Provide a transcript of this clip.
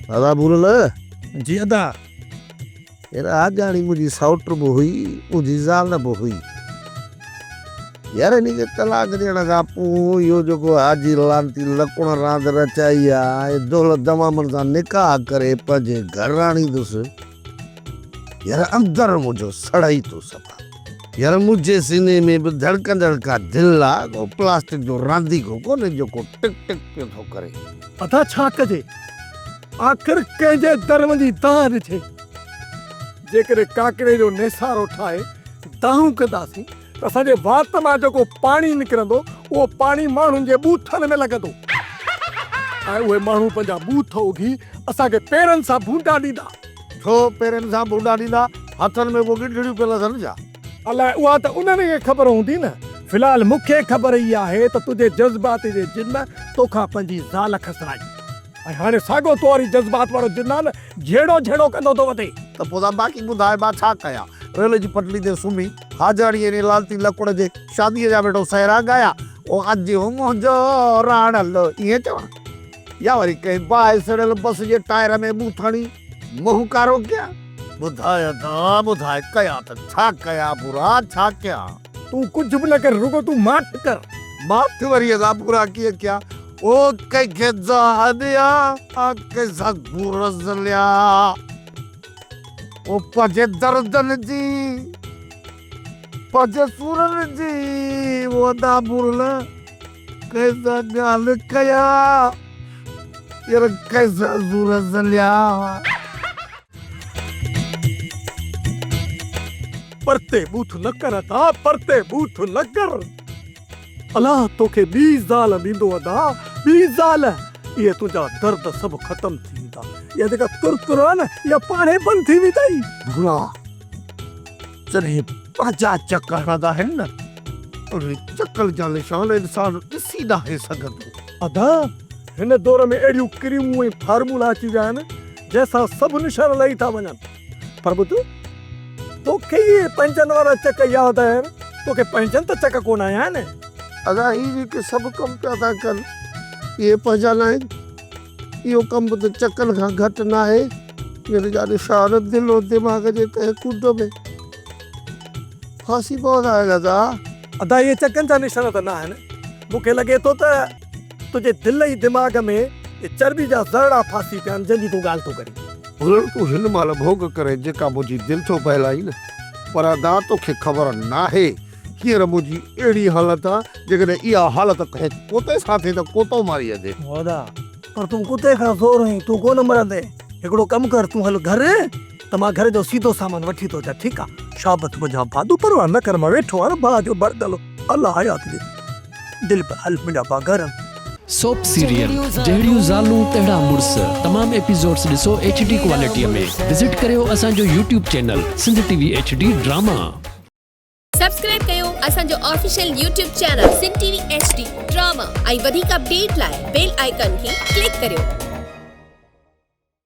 ادا ڀول نه. جي ادا. يار آجياڻي منهنجي سئوٽ به هئي منهنجي زال به هئي يار هن کي طلاق ڏيڻ کان پوء اهو جيڪو حاجي لعنتي لڪڻ راند رچائي آ ۽ دولت دمامن سان نڪاح ڪري پنهنجي گهرراڻي دوس يار اندر منهنجو سڙئي ٿو ستا. يار منهنجي سيني ۾ به ڌڙڪندڙ ڪا دل آ، ڪو پلاسٽڪ جو رانديڪو ڪونهي جيڪو ٽڪ ٽڪ پيو ٿو ڪري. ادا ڇا ڪجي آخر ڪنهن جي در وڃي دانهن ڏجي. جيڪڏهن ڪاڪڙي جو نيسارو ٺاهي دانهون ڪنداسين ته اسان جي وات مان جيڪو پاڻي نڪرندو اهو پاڻي ماڻهن جي ٻوٿن ۾ لڳندو ۽ اهي ماڻهو پنهنجا ٻوٿ اگهي اسان کي پيرن سان ڀونڊا ڏيندا. ڇو پيرن سان ڀونڊا ڏيندا؟ هٿن ۾ ڪو ڳنڍڙيون پيل اٿن ڇا؟ الاء اها ته انهن کي خبر هوندي نه. في الحال مون کي خبر هي آهي ته تنهنجي جذبات جي جن تو کان پنهنجي زال کسرائي ۽ هاڻي ساڳيو تو واري جذبات وارو جنان جهيڙو جهيڙو ڪندو ٿو وتي. ته پوء تان باقي ٻڌاء مان ڇا ڪيان؟ ريل جي پٽڙي تي سمهي. حاجاڻيء انهيء لالتي لڪوڙ جي شاديء جا ويڙهو سهرا ڳايا. او اڄ هو منهنجو راڻل، ائين چوان؟ يا وري ڪنهن باهه سڙيل بس جي ٽائر ۾ منهن ڦاڻي منهن ڪارو ڪيان؟ ٻڌاء ادا، ٻڌاء، ڪيان ته ڇا ڪيان ڀورا، ڇا ڪيان؟ تون ڪجهه به نه ڪر، رڳو تون ماٺ ڪر. ماٺ وري ادا ڀورا ڪيئن ڪيان؟ او ڪنهن کي دانهن ڏيان، آن ڪنهن سان گورز ليان؟ او پنهنجي دردن جي، پنهنجي سورن جي او ادا مورل ڪيسا گال ڪيا ير ڪيسا زور زليا. پرتي بوٿ نه ڪر ادا پرتي بوٿ نه ڪر. الله توکي ٻي زال ڏيندو ادا ٻي زال اهي تنهنجا درد سڀ ختم ٿي ويندا اها جيڪا تر تر آهي نه اها پاڻهي بند ٿي ويندئي. ڀورا جڏهن پنهنجا چڪ هڻندا آهن نه انهي چڪن جا نشان انسان ڏسي ناهي سگهندو. ادا هن دور ۾ اهڙيون ڪريمون ۽ فارمولا اچي ويا آهن جنهن سان سڀ نشان لهي ٿا وڃن. پر ٻڌ، توکي ئي اهي پنهنجن وارا چڪ ياد آهن، توکي پنهنجن ته چڪ ڪونه آيا آهن. ادا هي جيڪي سڀ ڪم پيا ٿا ڪن اهي پنهنجا ناهن، اهو ڪم به ته چڪن کان گهٽ ناهي. مير جان شاهه دل و دماغ جي ڪنهن ڪنڊ ۾ ڦاسي پوندا آهن ادا. ادا اهي چڪن جا نشان ته ناهن، مون کي لڳي ٿو ته. تنهنجي دل ۽ دماغ ۾ اهي چرٻي جا ذرڙا ڦاسي پيا آهن، جنهن جي تون ڳالهه ٿو ڪرين. ڀلڻ تون هن مهل ڀوڳ ڪرين، جيڪا منهنجي دل ٿو بهلائين. پر ادا توکي خبر ناهي، هينئر منهنجي اهڙي حالت آهي، جيڪڏهن اها حالت ڪنهن ڪتي سان ٿئي ته ڪتو ماري ويندي. ادا پر تون ڪتي کان زور هين، تون ڪونه مرندين. هڪڙو ڪم ڪر، تون هل گهر ته مان گهر جو سيڌو سامان وٺي ٿو اچان، ٺيڪ آهي. شابت منهنجا ڀاء، تون پرواهه نه ڪر، مان ويٺو آهيان نه، ڀاء جو بردل الله حيات ڏي. دل په هل منهنجا باگرم. سوپ سيريل جهڙيون زالون تهڙا مڙس تمام ايپيسوڊس ڏسو ايڇ ڊي ڪوالٽيء ۾ وزٽ ڪريو اسان جو YouTube channel Sindh T V H D drama. Subscribe ڪيو اسان جو official YouTube channel Sindh T V H D drama ۽ وڌيڪ اپڊيٽ لاء بيل آئيڪان کي ڪلڪ ڪريو.